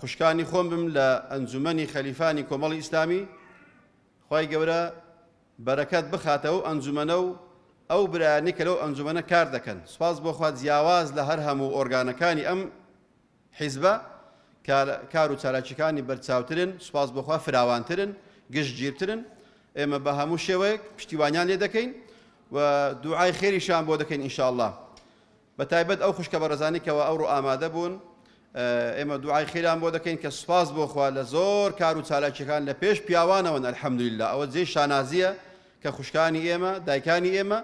خوشکانی خۆم بم لە ئەنجومەنی خەلیفانی کۆمەڵی ئیسلامی خی گەورە بەرەکەت بخاتە ئەو ئەنجومەنە و ئەو برایانی کە لەو ئەنجومەنە کار دەکەن سپاس بۆخوا جیاواز لە هەر هەموو ئۆرگانەکانی ئەم حیزبە کار و چالاکیەکانی بەرچاوترن سپاس بۆخوا فراوانترن گشتگیرترن ئێمە بە هەموو شێوەیەک پشتیوانیان لێ دەکەین و دوعای خێریشان بۆ دەکەین ئینشاءله بە تایبەت ئەو خوشکە بەڕێزانەی کەوا ئەوڕۆ ئامادە بوون ئێمە دوعای خیران بۆ دەکەین کە سوپاس بۆ خوا لە زۆر کار و چالاکیەکان لە پێش پیاوانەوەن الحمدللە ئەوە جێی شانازیە کە خوشکانی ئێمە دایکانی ئێمە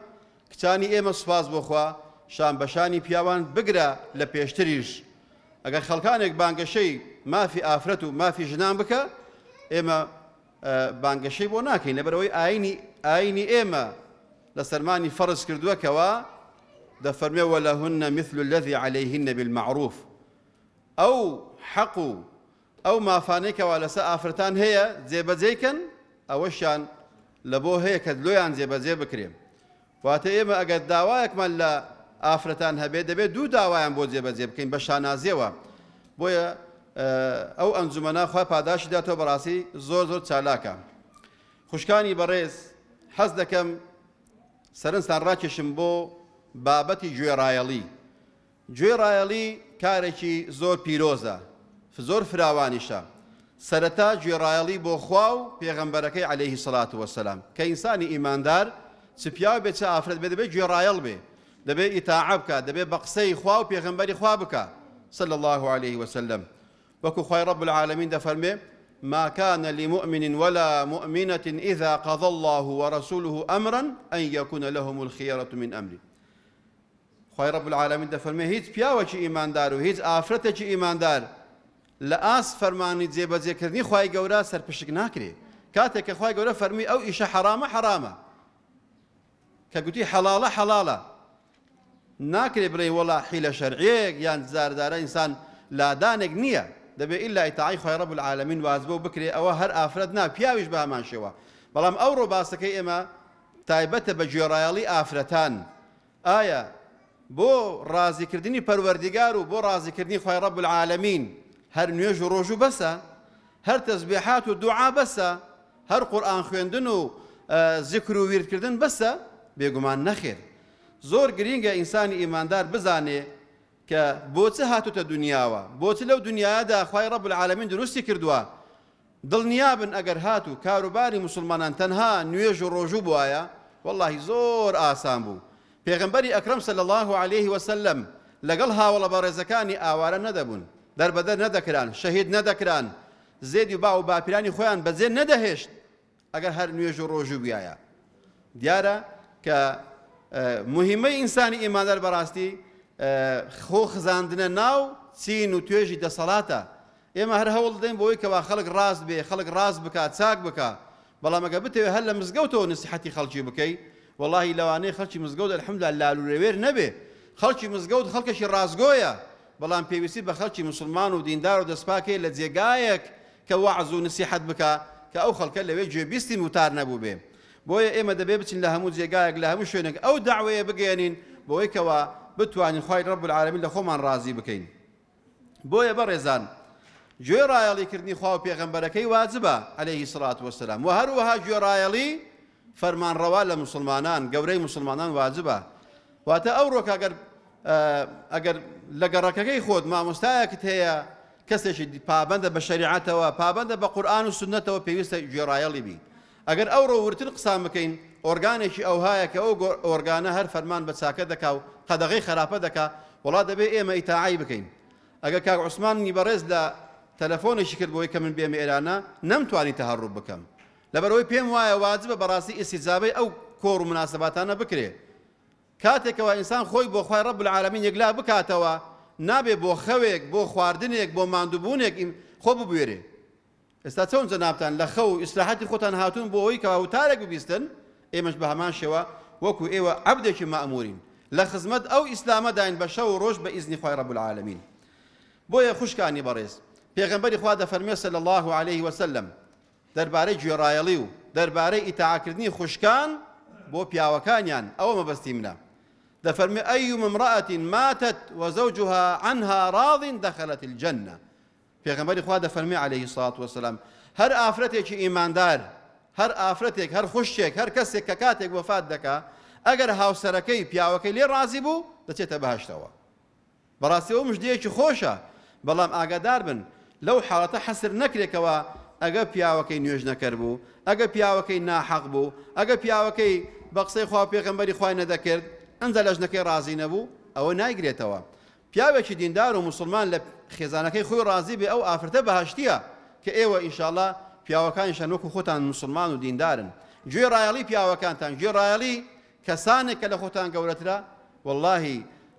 کچانی ئێمە سوپاس بۆ خوا شان بەشانی پیاوان بگرە لە پێشتریش ئەگەر خەڵکانێک بانگەشەی مافی ئافرەت و مافی ژنان بکە ئێمە بانگەشەی بۆ ناکەین لەبەرەوەی ئاینی ئاینی ئێمە لە سەرمانی فەرز کردووە کەوا دەفەرمێ وەلەهن مثل الذي عليهن بالمعروف ئەو حەق و ئەو مافانەی کەوا لەسەر ئافرەتان هەیە جێبەجێکەن ئەوەشیان لە بۆ هەیە کە لۆیان جێبەجێ بکرێن واتە ئێمە ئەگەر داوایەکمان لە ئافرەتان هەبێت دەبێت دوو داوایان بۆ جێبەجێ بکەین بە شانازیەوە بۆیە ئەو ئەنجومەنا خوا پاداشی داتەوە بەڕاستی زۆر زۆر چالاکە خوشکانی بەڕێز حەز دەکەم سەرنجتان ڕاکێشم بۆ بابەتی گوێڕایەڵی گوێڕایەڵی کارێکی زۆر پیرۆزە زۆر فراوانیشە، سەرەتا گوێڕایەڵی بۆ خوا و پێغەمبەرەکەی علیە الصلوە و السلام، کە ئینسانی ئیماندار چ پیاو بێت چ ئافرەت بێت دەبێت گوێڕایەڵ بێ دەبێت ئیتاعە بکات دەبێت بە قسەی خوا و پێغەمبەری خوا بکات صلی اللە علیە وسلم وەکو خوای رب العالمین دەفەرمێ ما كان لمؤمن ولا مؤمنة إذا قضى الله ورسوله أمرا أن يكون لهم الخيرة من أمره خوای رب العالمین دەفەرموێ هیچ پیاوەکی ئیماندار و هیچ ئافرەتێکی ئیماندار لە ئاست فەرمانی جێبەجێکردنی خوای گەورە سەرپشک ناکرێ کاتێک کە خوای گەورە فەرمی ئەو ئیشە حەرامە حەرامە کە گوتی حەڵاڵە حەڵاڵە ناکرێ بڵێ وەڵا حیلە شەرعیەک یان زاردارە ئینسان لادانێک نییە دەبێ ئیلا ئیتاعی خۆی ڕەب العالمین واز بۆ بکرێ ئەوە هەر ئافرەت نا پیاویش بە هەمان شێوە بەڵام ئەو ڕۆباسەکەی ئێمە تایبەتە بە گوێڕایەڵی ئافرەتان ئایا بۆ ڕازی کردنی پەروەردیگار و بۆ ڕازی کردنی خوای ڕەب العالمین هەر نوێژ و ڕۆژوو بەسە؟ هەر تەزبێحات و دوعا بەسە؟ هەر قورئان خوێندن و زیکر و ویرد کردن بەسە؟ بێگومان نەخێر. زۆر گرینگە ئینسانی ئیماندار بزانێ کە بۆ چ هاتۆتە دونیاوە؟ بۆ چ لەو دونیایەدا خوای ڕەب العالمین دروستی کردووە؟ دڵنیابن ئەگەر هاتوو کاروباری موسڵمانان تەنها نوێژ و ڕۆژوو بوایە وەڵاهی زۆر ئاسان بوو پێغەمبەری ئەکرەم صلی اللە علیە وسلم لەگەڵ هاوەڵە بەڕێزەکانی ئاوارە نەدەبوون دەربەدەر نەدەکران شەهید نەدەکران زێدی باو و باپیرانی خۆیان بەجێ نەدەهێشت ئەگەر هەر نوێژ و ڕۆژوو بویایە دیارە کە مهمەی ئینسانی ئیماندار بەڕاستی خۆ خزاندنە ناو چین و توێژی دەسەڵاتە ئێمە هەر هەوڵ دەین بۆی کەوا خەڵک ڕاست بێ خەڵک ڕاست بکات چاک بکە بەڵام ئەگە بتەوێت هەر لە مزگەوتەوە نسیحەتی خەڵکی بکەی واللهی لەوانەیە خەڵکی مزگەوت الحمدلله لالورەوێر نەبێ خەڵکی مزگەوت خەڵکەشی ڕاستگۆیە بەڵام پێویستی بە خەڵکی موسڵمان و دیندار و دەستپاک هەیە لە جێگایەک کە وەعز و نسیحەت بکا کە ئەو خەڵکە لەوێ گوێبیستی وتار نەبووبێ بۆیە ئێمە دەبێ بچین لە هەموو جێگایەک لە هەموو شوێنێک ئەو دەعوەیە بگەیەنین بەوەی کەوا بتوانین خوای رب العالمین لە خۆمان رازی بکەین بۆیە بەڕێزان گوێ رایەڵی کردنی خوا و پێغەمبەرەکەی واجبە علیه الصلاة والسلام و هەروەها گوێ رایەڵی فەرمانڕەوا لە موسڵمانان گەورەی موسڵمانان واجبە واتە ئەو ڕۆکە گەر ئەگەر لە گەڕەکەکەی خۆت مامۆستایەکت هەیە کەسێکی پابندە بە شریعەتەوە پابندە بە قورآن و سنتەوە پێویستە گوێڕایەڵی بی ئەگەر ئەو ڕۆورتر قسان بکەین ئۆرگانێکی ئەوهایە کە ئەو ئۆرگانە هەر فەرمان بە چاکە دەکا و قەدەغی خراپە دەکا وڵا دەبێ ئێمە ئیتاعی بکەین ئەگە کاک عوسماننی بەڕێز لە تەلەفۆنێکی کرد بۆی کە من بێمە ئێرانە نەمتوانی تەهڕوو بکەم لەبەرئەوەی پێم وایە واجبە بەڕاستی ئیستیجابەی ئەو کۆڕ و موناسەباتانە بکرێ. کاتێکەوە ئینسان خۆی بۆ خوای رب العالمین یەکلا بکاتەوە نابێ بۆ خەوێک، بۆ خواردنێک، بۆ ماندووبوونێک خۆ ببوێرێ. ئێستا چۆن جەنابتان لە خەو و ئیسراحەتی خۆتان هاتوون بۆ ئەوەی کەوا وتارێک ببیستن، ئێمەش بە هەمان شێوە وەکو ئێوە عەبدێکی مەئموورین. لە خزمەت ئەو ئیسلامەداین بە شەو و رۆژ بە ئیزنی خوای رب العالمین. بۆیە خوشکانی بەڕێز، پێغەمبەری خوا دەفەرموێ صلی اللە علیه و سلم، دەربارەی گوێڕایەڵی و دەربارەی ئیتاعەکردنی خوشکان بۆ پیاوەکانیان، ئەوە مەبەستی منە. دەفەرموێ، ایوم امرأة ماتت وزوجها عنها راض دخلت الجنە. پێغەمبەری خوا دەفەرموێ، علیە الصلوة والسلام، هەر ئافرەتێکی ئیماندار، هەر ئافرەتێک، هەر خوشکێک، هەر کەسێک کە کاتێک وەفات دەکا، ئەگەر هاوسەرەکەی، پیاوەکەی، لێ رازی بوو، دەچێتە بەهەشتەوە. بەڕاستی ئەوە مژدەیەکی خۆشە، بەڵام ئاگاداربن لەو حاڵەتە حەسر نەکرێت کەوا ئەگەر پیاوەکەی نوێژنەکەر بوو، ئەگەر پیاوەکەی ناحەق بوو، ئەگەر پیاوەکەی بە قسەی خوا و پێغەمبەری خوای نەدەکرد ئنجا لە ژنەکەی ڕازی نەبوو ئەوە نایگرێتەوە پیاوێکی دیندار و موسڵمان لە خێزانەکەی خۆی ڕازی بێ ئەو ئافرەتە بەهەشتیە کە ئێوە ان شاء اللە پیاوەکانیشان وەکو خۆتان موسڵمان و دیندارن گوێ ڕایەڵی پیاوەکانتان گوێ ڕایەڵی کەسانێک کە لە خۆتان گەورەترە واللهی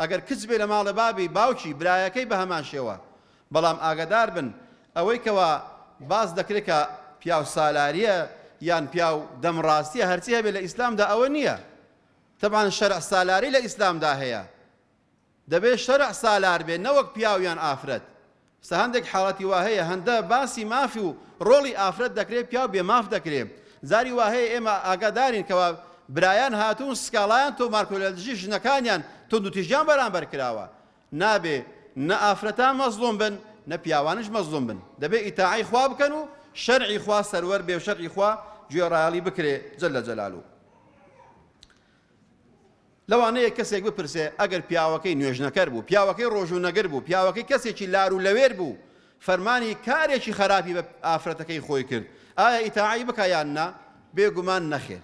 ئەگەر کچ بێ لە ماڵێ بابی باوکی برایەکەی بە هەمان شێوە بەڵام ئاگادار بن ئەوەی کەوا باس دەکرێ کە پیاو سالاریە یان پیاو دەم ڕاستیە هەرچی هەبێ لە ئیسلام دا ئەوە نیە تەبعەن شەرع سالاری لە ئیسلام دا هەیە دەبێ شەرع سالار بێ نەوەک پیاو یان ئافرەت سا هەندێک حاڵەتی وا هەیە هەندە باسی مافی و ڕۆڵی ئافرەت دەکرێ پیاو بێ ماف دەکرێ جاری وا هەیە ئێمە ئاگادارین کەوا برایان هاتوون سکاڵایان تۆمارکردوە لە دژی ژنەکانیان توندوتیژیان بەرامبەر کراوە نابێ نە ئافرەتان مەزڵوم بن نە پیاوانش مەزڵوم بن دەبێ ئیتاعەی خوا بکەن و شەرعی خوا سەروەر بێ و شەرعی خوا گوێڕایەڵی بکرێ جل جلاله لەوانەیە کەسێک بپرسێ ئەگەر پیاوەکەی نوێژنەکەر بوو، پیاوەکەی ڕۆژوو نەگر بوو، پیاوەکەی کەسێکی لار و لەوێر بوو، فەرمانی کارێکی خەراپی بە ئافرەتەکەی خۆی کرد، ئایا ئیتاعەی بکا یان نا؟ بێگومان نەخێر.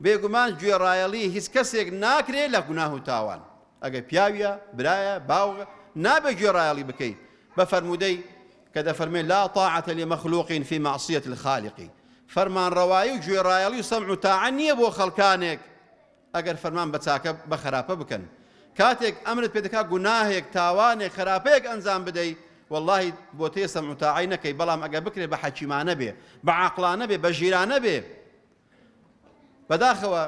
بێگومان گوێڕایەڵی هیچ کەسێک ناکرێ لە گوناه و تاوان. ئەگەر پیاویە، برایە، باوگە، نابێ گوێڕایەڵی بکەی. بە فەرموودەی. کە دەفەرمێ، لا طاعە لمخلوق فی معصیە الخالق، فەرمانڕەوایی و گوێڕایەڵی و سەمع و تاعە نییە بۆ خەڵکانێک ئەگەر فەرمان بە چاکە بە خەراپە بکەن، کاتێک ئەمرت پێ دەکا گوناهێک، تاوانێک، خەراپەیەک ئەنجام بدەی، وەڵڵاهی بۆتێ سەمع و تاعەی نەکەی، بەڵام ئەگەر بکرێ بە حەکیمانە بێ، بە عاقڵانە بێ، بە ژیرانە بێ. بەداخەوە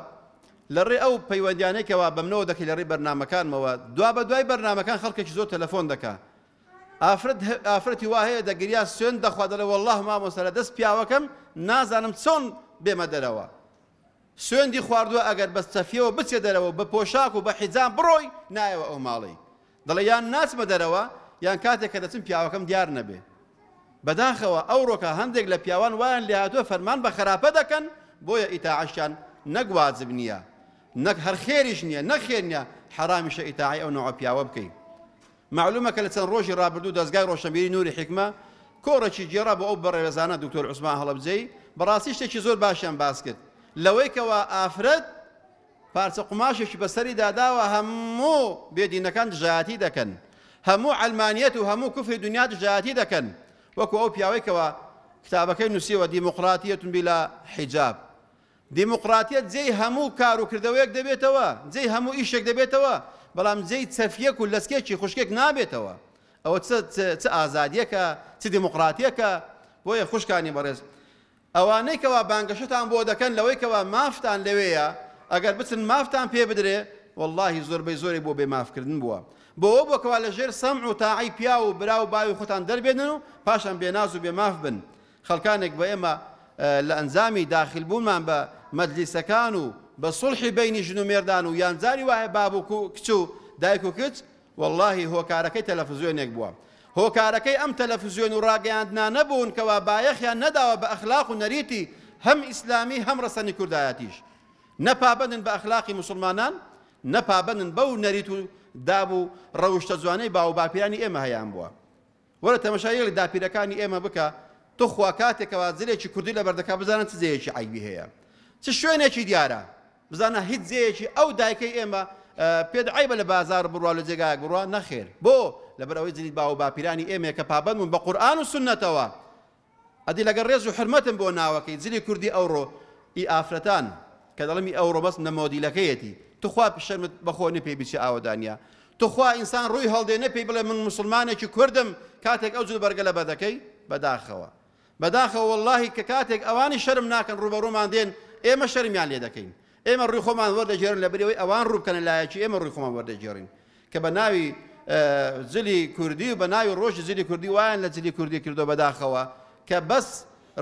لە ڕێ ئەو پەیوەندیانەی کەوا بەمنەوە دەکەی لە ڕێی بەرنامەکانمەوە، دوابەدوای بەرنامەکان خەڵکێکی زۆر تەلەفۆن دەکا، ئافرەت ئافرەتی وا هەیە دەگریا سوێند دەخوا دەڵێ وەڵاهی مامۆستا لە دەست پیاوەکەم نازانم چۆن بێمە دەرەوە سوێندی خواردووە ئەگەر بە چەفیەوە بچێ دەرەوە بە پۆشاک و بە حیجام بڕۆی نایەوە ئەو ماڵی دەڵێ یان ناچمە دەرەوە یان کاتێک کە دەچم پیاوەکەم دیار نەبێ بەداخەوە ئەوڕۆکە هەندێک لە پیاوان وایان لێهاتووە فەرمان بە خراپە دەکەن بۆیە ئیتاعشیان نەک واجب نییە نەک هەر خێریش نییە نەخێر نیە حەرامیشە ئیتاعی ئەو نەوە پیاوە بکەین مەعلومە کە لە چەند ڕۆژی ڕابردوو دەزگای ڕۆشنبیری نوری حیکمە کۆڕێکی گێڕا بۆ ئەو بەڕێوێزانە دکتۆر عوسمان هەڵەبجەیی بەڕاستی شتێکی زۆر باشیان باس کرد لەوەی کەوا ئافرەت پارچە قوماشێکی بەسەری داداوە هەموو بێدینەکان دژایەتی دەکەن هەموو علمانیەت و هەموو کوفری دنیا دژایەتی دەکەن وەکو ئەو پیاوەی کەوا کتابەکەی نووسیوە دیموقراتیەتون بلا حیجاب دیموقراتیەت جێی هەموو کار و کردەوەیەک دەبێتەوە، جێی هەموو ئیشێک دەبێتەوە، بەڵام جێی چەفیەک و لەچکێکی خوشکێک نابێتەوە. ئەوە چ چ ئازادیەکە، چ دیموقراتیەکە؟ بۆیە خوشکانی بەڕێز، ئەوانەی کەوا بانگەشەتان بۆ دەکەن لەوەی کەوا مافتان لەوێیە، ئەگەر بچن مافتان پێ بدرێ، وەڵاهی زۆربەی زۆرێک بۆ بێ ماف کردن بووە. بۆ ئەوە بووە کەوا لەژێر سەمع و تاعەی پیاو و برا و باوی خۆتان دەربێنن و پاشان بێ ناز و بێ ماف بن. خەڵکانێک بە ئێمە لە ئەنجامی داخل بوونمان بە مەجلیسەکان و بە سوڵحی بەینی ژن و مێردان و یان جاری وایە باب و کچ و دایک و کچ وەڵاهی هۆکارەکەی تەلەفزیۆنێک بووە هۆکارەکەی ئەم تەلەفزیۆن و ڕاگەیاندنانە بوون کەوا بایەخیان نەداوە بە ئەخلاق و نەریتی هەم ئیسلامی هەم ڕەسەنی کوردایەتیش نە پابەندن بە ئەخلاقی موسڵمانان نە پابەندن بەو نەریت و داب و ڕەوشتە جوانەی باو و باپیرانی ئێمە هەیان بووە وەرە تەمەشای یەک لە داپیرەکانی ئێمە بکە توخوا کاتێکەوە زلێکی کوردی لەبەر دەکا بزانە چ جێیەکی عەیبی هەیە چ شوێنێکی دیارە بزانە هیچ جێیەکی ئەو دایکەی ئێمە پێت عەیبە لە بازار بڕوا لە جێگایەک بڕوا نەخێر بۆ لەبەر ئەوەی جلی باو و باپیرانی ئێمەیە کە پابەند بوون بە قورئان و سوننەتەوە ئەدی لەگەڵ ڕێز و حورمەتم بۆ ناوەکەی، جلی کوردی ئەوڕۆ، ی ئافرەتان، کە دەڵێم ی ئەوڕۆ بەس نە مۆدیلەکەیەتی، توخوا شەرمت بەخۆ نی پێی بچێ ئاوەدانیە، توخوا ئینسان ڕووی هەڵدێ نە پێی بڵێ من موسڵمانێکی کوردم کاتێک ئەو جلوبەرگە لەبەر دەکەی، بەداخەوە بەداخەوە وەڵاهی کە کاتێک ئەوانی شەرم ناکەن ڕووبەڕوومان دێن ئێمە شەرمیان لێ دەکەین، ئێمە ڕووی خۆمان وەردەگێڕن لەبری ئەوەی ئەوان ڕوو بکەنە لایەکی ئێمە ڕووی خۆمان وەردەگێڕین کە بە ناوی جلی کوردی و بە ناوی ڕۆژی جلی کوردی وایان لە جلی کوردی کردووە بەداخەوە کە بەس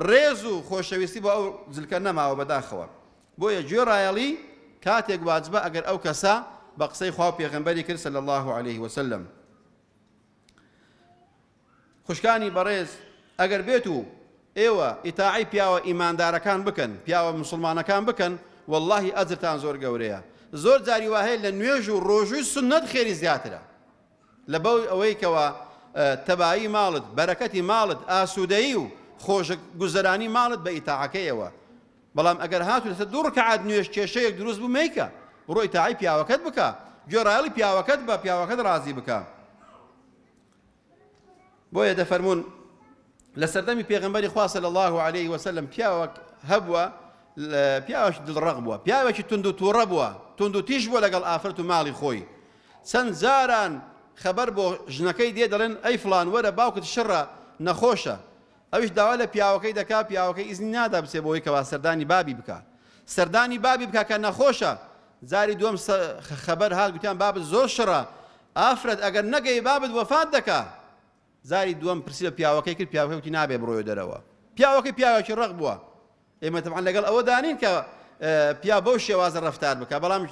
ڕێز و خۆشەویستی بۆ ئەو جلکە نەماوە بەداخەوە بۆیە گوێڕایەڵی کاتێک واجبە ئەگەر ئەو کەسە بە قسەی خوا و پێغەمبەری کرد صلی الله علیه وسلم خوشکانی بەڕێز ئەگەر بێت و ئێوە ئیتاعەی پیاوە ئیماندارەکان بکەن پیاوە موسڵمانەکان بکەن وەڵاهی ئەجرتان زۆر گەورەیە زۆر جاری واهەیە لە نوێژ و ڕۆژووی سوننەت خێری زیاترە لەبەو ئەوەی کەوە تەبایی ماڵت بەرەکەتی ماڵت ئاسوودەیی و خۆشک گوزەرانی ماڵت بە ئیتاعەکەیەوە بەڵام ئەگەر هاتو لەسە دوو ڕکعات نوێژ کێشەیەک دروست بوو مەیکە بڕۆی تاعی پیاوەکەت بکە گوێڕایەڵی پیاوەکەت بە پیاوەکەت ڕازی بکە بۆیە دەفەرموون لە سەردەمی پێغمبەری خوا صلی الله علیه وسلم پیاوەک هەبووە پیاوەش دڵڕەق بووە پیاوێکی تونند و تووڕە بووە تونند و تیژ بووە لەگەڵ ئافرەت و ماڵی خۆی چەند جاران خەبەر بۆ ژنەکەی دێ دەڵێن ئەی فلان وەرە باوکت شڕە نەخۆشە ئەویش داوا لە پیاوەکەی دەکا، پیاوەکەی ئیزنی نادا بچێ بۆی کەوا سەردانی بابی بکا. سەردانی بابی بکا کە نەخۆشە. جاری دووەم خەبەر هات گوتیان بابت زۆر شڕە. ئافرەت ئەگەر نەگەی بابت وەفات دەکا. جاری دووەم پرسی لە پیاوەکەی کرد، پیاوەکەی وتی نابێ بڕۆیە دەرەوە. پیاوەکەی پیاوێکی ڕەق بووە. ئێمە تەبعەن لەگەڵ ئەوەدا نین کە پیاو بەو شێوازە ڕەفتار بکا، بەڵام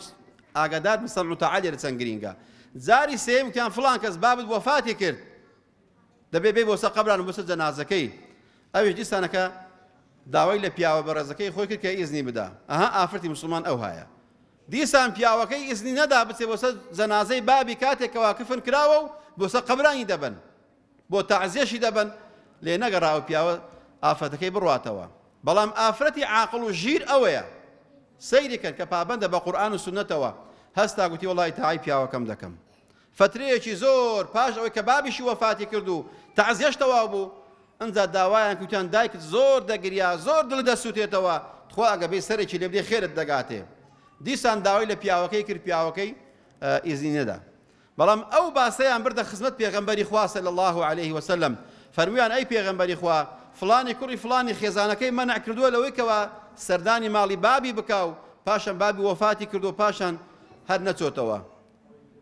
ئاگادار بن سەمع و تاعە لێرە چەند گرینگە. جاری سێیەم وتیان فڵان کەس بابت وەفاتی کرد. دەبێ بێی بۆ سەر قەبران و بۆ سەر جەنازەکەی ئەویش دیسانەکە داوای لە پیاوە بەڕێزەکەی خۆی کرد کە ئیزنی بدا ئەها ئافرەتی مسلمان ئەو هایە دیسان پیاوەکەی ئیزنی نەدا بچێ بۆ سەر جەنازەی بابی کاتێک کەوا کفن کراوە و بۆ سەر قەبرانی دەبن بۆ تەعزیەشی دەبن لێ نەگەڕا و پیاوە ئافرەتەکەی بڕاتەوە بەڵام ئافرەتی عاقڵ و ژیر ئەوەیە سەیری کرد کە پابەندە بە قورآن و سنەتەوە هەستا گوتی وڵی تاعی پیاوەکەم دەکەم فترەیەکی زۆر پاش ئەوەی کە بابیشی وەفاتی کرد و تەعزیەش تەواو بوو ئنجا داوایان کوتیان دایکت زۆر دەگریا زۆر دڵی دەسوتێتەوە تخوا ئەگە بێی سەرێکی لێ بدەی خێرت دەگاتێ دیسان داوای لە پیاوەکەی کرد پیاوەکەی ئیزنی نەدا بەڵام ئەو باسەیان بردە خزمەت پێغەمبەری خوا صلی الله علیه وسلم فەرمویان ئەی پێغەمبەری خوا فلانی کوڕی فلانی خێزانەکەی مەنع کردووە لەوەی کەوا سەردانی ماڵی بابی بکاو پاشان بابی وەفاتی کردو پاشان هەر نەچۆتەوە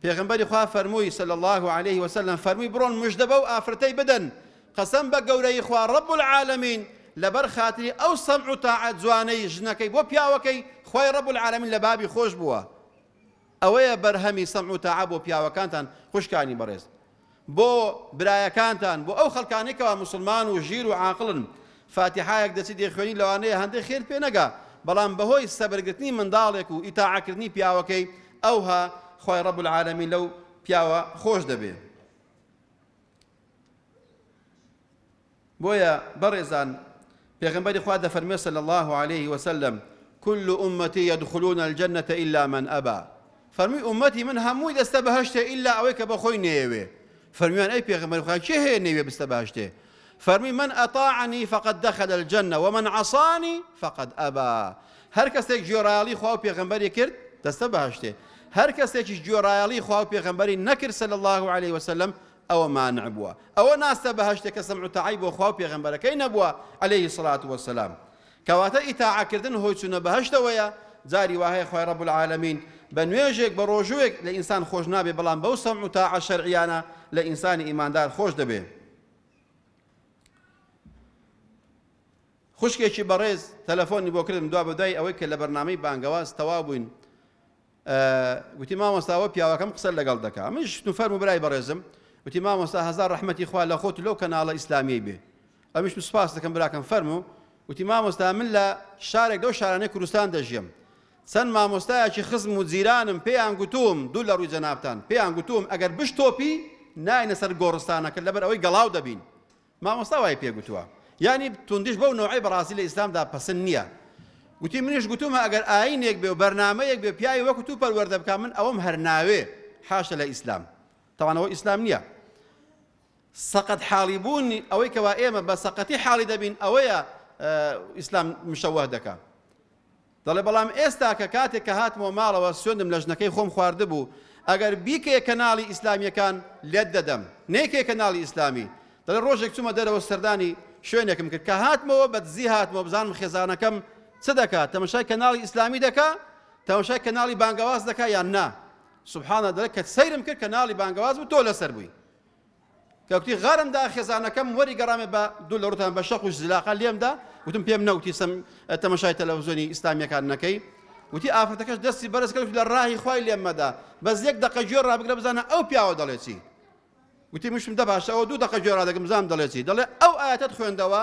پێغەمبەری خوا فەرمووی، صلی اللە علیه و سلم، فەرمووی، بڕۆن مژدە بەو ئافرەتەی بدەن، قەسەم بە گەورەیی خوا رب العالمین، لەبەر خاتری ئەو سەمع و تاعە جوانەی ژنەکەی بۆ پیاوەکەی، خوای رب العالمین لە بابی خۆش بووە. ئەوەیە بەرهەمی سەمع و تاعە بۆ پیاوەکانتان، خوشکانی بەڕێز. بۆ برایەکانتان بۆ ئەو خەڵکانەی کەوا موسڵمان و ژیر و عاقڵن فاتیحایەک دەچی دەیخوێنی لەوانەیە هەندەی خێرت پێ نەگا بەڵام بەهۆی سەبر گرتنی منداڵێک و ئیتاعە کردنی پیاوەکەی ئەوها خوای رب العالمین لەو پیاوە خۆش دەبێ. بۆیە بەڕێزان پێغەمبەری خوا دەفەرموێ صلی اللە علیه و سلم کل امتی یدخلون الجنە الا من ابا فەرمووی ئومەتی من هەمووی دەستە بەهشتێ ئللا ئەوەی کە بەخۆی نەیەوێ فەرمیان ئەی پێغەمبەر خوا کێ هەیە نەیوێ بستە بەهشتێ فەرمی من ئەطاعنی فقد دخل الجنە ومن عصانی فقد ئەبا هەر کەسێک گوێڕایەڵی خوا و پێغەمبەری کرد دەستە بەهشتێ هەر کەسێکیش گوێڕایەڵی خوا و پێغەمبەری نەکرد صلی الله عليه وسلم ئەوە مانع بووە ئەوە ناستە بەهەشتە کە سەمع و تاعەی بۆ خوا و پێغەمبەرەکەی نەبووە علیە الصلوة والسلام کەواتە ئیتاعە کردن هۆی چونە بەهەشتەوەیە جاری واهەیە خوای رب العالمین بە نوێژێک بە رۆژووێک لە ئینسان خۆش نابێ بەڵام بەو سەمع و تاعە شەرعیانە لە ئینسانی ئیماندار خۆش دەبێ خوشکێکی بەڕێز تەلەفۆنی بۆ کردم دوا بەدوای ئەوەی کە لە بەرنامەی بانگەواز تەوا بووین گوتی مامۆستا ئەوە پیاوەکەم قسە لەگەڵ دەکا من شتو فەرمو برای بەڕێزم گوتی مامۆستا هەزار ڕەحمەتی خوا لە خۆت لەو کەناڵە ئیسلامیەی بێ ئەمیشم سپاس دەکەم براکەم فەرمو گوتی مامۆستا من لە شارێک لەو شارانەی کوردستان دەژیم چەند مامۆستایەکی خزم و جیرانم پێیان گوتوم دوو لە ڕووی جەنابتان پێیان گوتوم ئەگەر بشتۆپی ناینە سەر گۆڕستانەکە لەبەر ئەوەی گەڵاو دەبین مامۆستا وای پێ گوتووە یانی توندیش بەو نەوعەی بەڕاستی لە ئیسلامدا پەسن نییە گوتی منیش گوتومە ئەگەر ئاینێک بێ و بەرنامەیەک بێ پیاوی وەکو تو پەروەردە بکا من ئەوەم هەر ناوێ حاشە لە ئیسلام تەوان ئەوە ئیسلام نییە سەقەت حاڵی بوون ئەوەی کەوا ئێمە بە سەقەتی حاڵی دەبین ئەوەیە ئیسلام مشەوه دەکا دەڵێ بەڵام ئێستاکە کاتێک کە هاتمەوە ماڵەوە سوێندم لە ژنەکەی خۆم خواردبوو ئەگەر بیکەیە کەناڵی ئیسلامیەکان لێت دەدەم نەیکەی کەناڵی ئیسلامی دەڵێ ڕۆژێک چومە دەرەوە سەردانی شوێنێکم کرد کە هاتمەوە بە دزی هاتمەوە بزانم خێزانەکەم چ دەکا تەمەشای کەناڵی ئیسلامی دەکا تەمەشای کەناڵی بانگەواز دەکا یان نا سبحانە دەڵێ کە سەیرم کرد کەناڵی بانگەواز بوو تۆ لەسەر بووی کەوتی غارم دا خێزانەکەم وەری گەڕامێ بە دوو لە ڕوتان بە شەق و زلاقە لێمدا وتم پێم نەوتی سم تەمەشای تەلەڤزۆنی ئیسلامیەکان نەکەی وتی ئافرەتەکەش دەستی بەرز کرد لە ڕاهی خوای لێم مەدا بەس یەک دەقە گوێ ڕابگرە بزانە ئەو پیاوە دەڵێ چی وتی مشم دە باشە ئەو دوو دەقە گوێ ڕادەگم زام دەڵێ چی دەڵێ ئەو ئاەتت خوێندەوە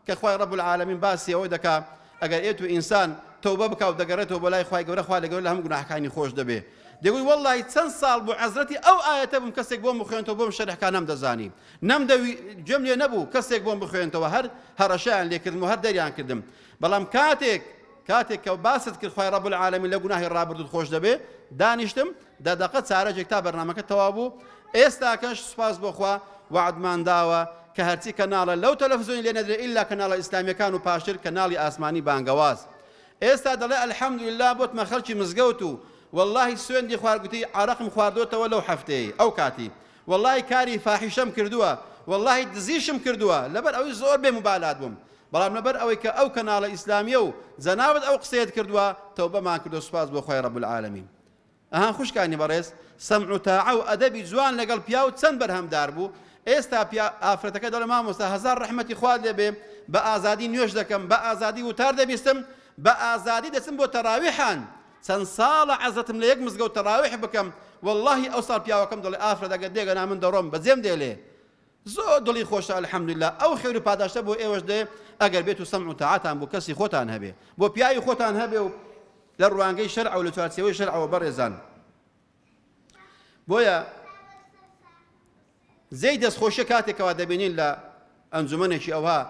کە خوای رب العالمین باسی ئەوە دەکا ئەگەر ئێت و ئینسان تەوبە بکا و دەگەرێتەوە بۆ لای خوای گەورە خوا لە گەورە لە هەموو گوناحەکانی خۆش دەبێ دەگوی واللەهی چەن ساڵ بوو عەزرەتی ئەو ئایەتە بووم کەسێک بۆم بخوێنتەوە بۆم شەرح کا نەم دەزانی نەم دەوی گوێم لێ نەبوو کەسێک بۆم بخوێنتەوە هەر هەڕەشەیان لێ کردم و هەر دەریان کردم بەڵام کاتێک کاتێک کە باست کرد خوای رب العالمین لە گوناهی ڕابردوت خۆش دەبێ دانیشتم دە دەقە چارەکێک تا بەرنامەکە تەواو بوو ئێستاکەش سوپاس بۆ خوا وەعدمان داوە کە هەرچی کەناڵە لەو تەلەفزیۆنی لێ نەدرێ ئیلا کەناڵە ئیسلامیەکان و پاشتر کەناڵی ئاسمانی بانگەواز ئێستا دەڵێ الحەمدللە بۆتمە خەڵکی مزگەوت و واللهی سوێندی خوار گوتی عرەقم خواردۆتەوە لەو هەفتەیە ئەو کاتی واللهی کاری فاحیشەم کردووە واللهی دزیشم کردووە لەبەر ئەوەی زۆر بێ مبالات بووم بەڵام لەبەر ئەوەی کە ئەو کەناڵە ئیسلامیە و جەنابت ئەو قسەیەت کردووە تەوبەمان کردو سوپاس بۆ خۆی رب العالمین ئەها خوشکانی بەڕێز سەمع و تاعە و ئەدەبی جوان لەگەڵ پیاو چەند بەرهەمدار بوو ئێستا ئافرەتەکە دەڵێ مامۆستا هەزار ڕەحمەتی خوات لێبێ بە ئازادی نوێش دەکەم بە ئازادی وتار دەبیستم بە ئازادی دەچم بۆ تەراویحان چەند ساڵە عەزەتم لە یەک مزگەوت تەراویح بکەم واللهی ئەو ساڵ پیاوەکەم دەڵێ ئافرەتەکە دێگەنا من دەڕۆم بەجێم دێلێ زۆر دڵی خۆشە الحمدللە ئەو خێرو پاداشتە بۆ ئێوەش دێ ئەگەر بێتو سەمع و تاعەتان بۆ کەسی خۆتان هەبێ بۆ پیاوی خۆتان هەبێ و لە ڕوانگەی شەرعەو لە چوارچێوەی شەرعەوە بەڕێزان بۆیە زەی دەستخۆشە کاتێکەوە دەبینین لە ئەنجومەنێکی ئەوها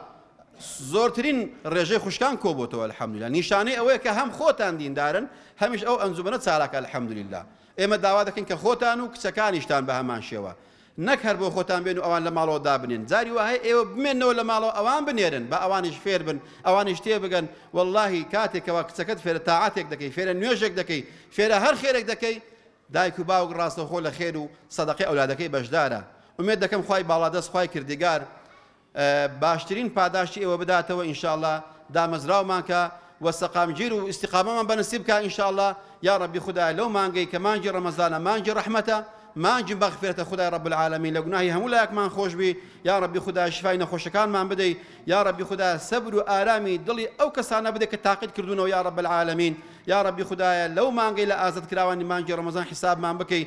زۆرترین ڕێژەی خوشکان کۆبتەوە الحمدللا نیشانەی ئەوەیە کە هەم خۆتان دیندارن هەمیش ئەو ئەنجومەنە چالاکە الحمدللا ئێمە داوا دەکەین کە خۆتان و کچەکانیشتان بە هەمان شێوە نەک هەر بۆ خۆتان بێن و ئەوان لە ماڵەوە دابنێن، جاری وا هەیە ئێوە بمێننەوە لە ماڵەوە ئەوان بنێرن، با ئەوانیش فێر بن، ئەوانیش تێ بگەن، وەڵڵاهی کاتێک کەوا کچەکەت فێرە تاعەتێک دەکەی، فێرە نوێژێک دەکەی، فێرە هەر خێرێک دەکەی، دایک و باوک ڕاستەوخۆ لە خێر و سەدەقەی ئەولادەکەی بەشدارە، ئومێد دەکەم خوای باڵادەست، خوای کردگار، باشترین پاداشتی ئێوە بداتەوە ان شاء اللە دامەزراومان کە وە سەقامگیر و استقامەمان بەنسیب بکە ان شاء اللە یاڕەبی خودایە لەو مانگەی کە مانگی ڕەمەزانە مانگی ڕەحمەتە مانگی مەغفرەتە خودای ڕب العالمین لە گوناهی هەموو لایەکمان خۆشبی یاڕەبی خودا شفای نەخۆشەکانمان بدەی یاڕەبی خودا سەبر و ئارامی دڵی ئەو کەسانە بدە کە تاقیت کردوونەوە یاڕب العالمین یاڕەبی خوددایە لەو مانگەی لە ئازاد کراوانی مانگی ڕەمەزان حسابمان بکەی